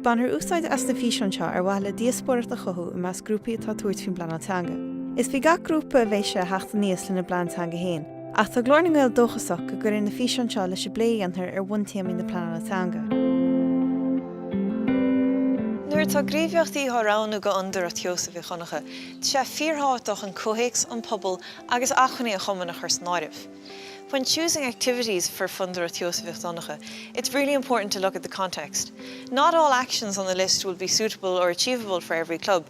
Bainfear úsáid as na físeáin seo ar mhaithe le díospóireacht a chothú i measc grúpaí atá ag tabhairt faoin bPleanáil Teanga. Is faoi gach grúpa a bheidh sé a theacht aníos lena bplean teanga féin. Ach tá Glór na nGael dóchasach go gcuirfidh na físeáin seo leis an bplé a dhéantar ar bhuntéamaí na pleanála teanga. Nuair atá gníomhaíochtaí á roghnú do Fhondúireacht Sheosaimh Mhic Dhonncha, tá sé fíorthábhachtach an comhthéacs, an pobal agus acmhainní an chumainn a chur san áireamh. When choosing activities for Fondúireacht Sheosaimh Mhic Dhonncha, it's really important to look at the context. Not all actions on the list will be suitable or achievable for every club.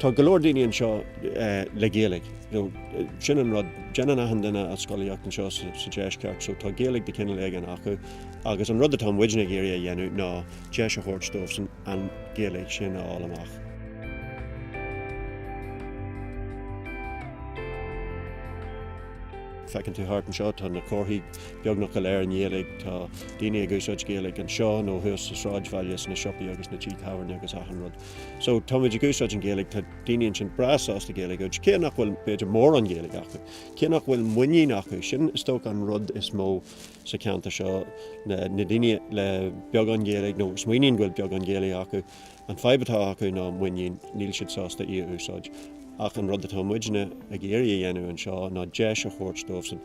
Tá go leor daoine anseo le Gaeilge. Sin an rud, déanann achan duine a scolaíocht anseo sa Deisceart, so tá Gaeilge de chineál éigin acu. Agus an rud atá muidne ag iarraidh a dhéanamh ná deis a thabhairt dóibhsan an Ghaeilge sin a fháil amach. Feiceann tú thart anseo, tá na comharthaí beagnach go léir i nGaeilge, tá daoine ag úsáid Gaeilge anseo nó thuas sa sráidbhaile, sna siopaí agus sna tithe tábhairne agus achan rud. So, táimid ag úsáid an Ghaeilge, tá daoine ansin breá sásta Gaeilge a úsáid, cé nach bhfuil, b'fhéidir, mórán Gaeilge acu, cé nach bhfuil muinín acu, sin, is dócha, an rud is mó sa cheantar seo, na daoine le beagán Gaeilge, nó smaoiníonn go bhfuil beagán Gaeilge acu, an fadhb atá acu ná muinín, níl siad sásta í a úsáid. Ach an rud atá muidne ag iarraidh a dhéanamh anseo ná deis a thabhairt dóibhsan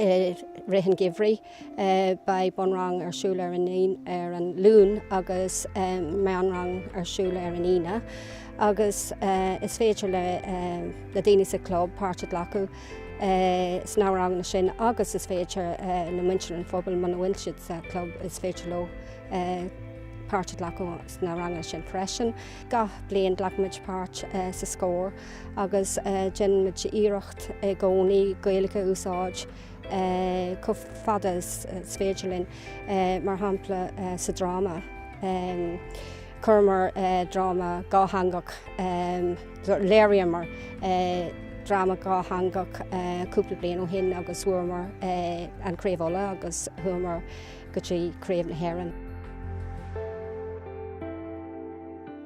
i rith an gheimhridh. Beidh bunrang ar siúl ar an ar an Luan agus meánrang ar siúl ar an Aoine agus is féidir le daoine sa chlub páirt a ghlacadh sna ranganna sin agus is féidir le muintir an phobail muna bhfuil siad sa chlub, is féidir leo páirt a ghlacadh sna ranganna sin freisin. Gach bliain glacaimid páirt sa Scór. agus déanaimid iarracht i gcónaí Gaeilge a úsáid chomh fada is is féidir linn, mar shampla sa dráma. Chuireamar dráma dhátheangach, léiríomar dráma dhátheangach cúpla bliain ó shin agus bhuamar an Craobh Uladh agus chuamar go dtí Craobh na hÉireann.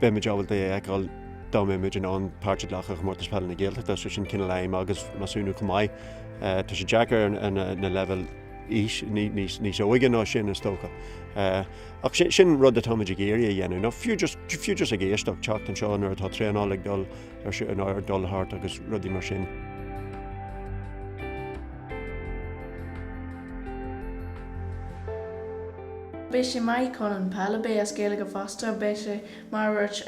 Beimid ábalta é a fheiceáil dá mbeimid in ann páirt a ghlacadh i gcomórtas peile na Gaeltachta, so sin cineál aidhm agus measúnú chomh maith. Tá sé deacair na leibhéil aois níos óige ná sin, is dócha. Ach sin rud atáimid ag iarraidh a dhéanamh, nó fiú just ag éisteacht, teacht anseo nuair atá traenáil ag dul Tá traenáil ar dul thart agus rudaí mar sin. Beidh sé maith chun an peil a beith as Gaeilge fosta, beidh sé mar dúirt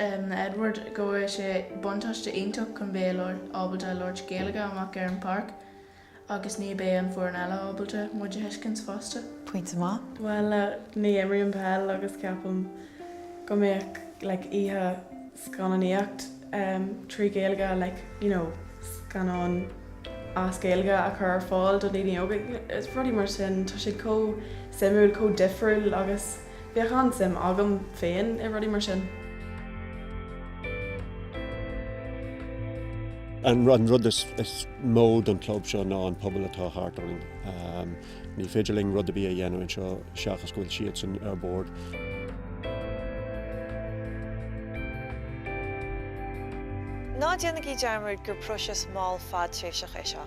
Edward go bhfuil sé buntáiste iontach chun bheith ábalta labhairt Gaeilge amach ar an pháirc. Agus ní beidh an foireann eile ábalta muid a thuiscint fosta. Pointe maith. Bhuel, ní imríonn peil agus ceapaim go mbeadh like oíche scannánaíocht em trí Ghaeilge like you know scannáin as Gaeilge a chur ar fáil do dhaoine óga, rudaí mar sin, tá sé chomh suimiúil, chomh difriúil agus. Bheadh an-suim agam féin i rudaí mar sin. An rud is mó don chlub seo ná an pobal atá thart orainn. Ní féidir linn rud ar bith a dhéanamh anseo seachas go bhfuil siadsan ar bord. Ná déanaigí dearmad gur próiseas mall fadtréimhseach é seo.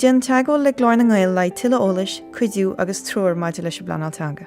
Déan teagmháil le Glór na nGael le haghaidh tuilleadh eolais, cuidiú agus treoir maidir leis an bpleanáil teanga.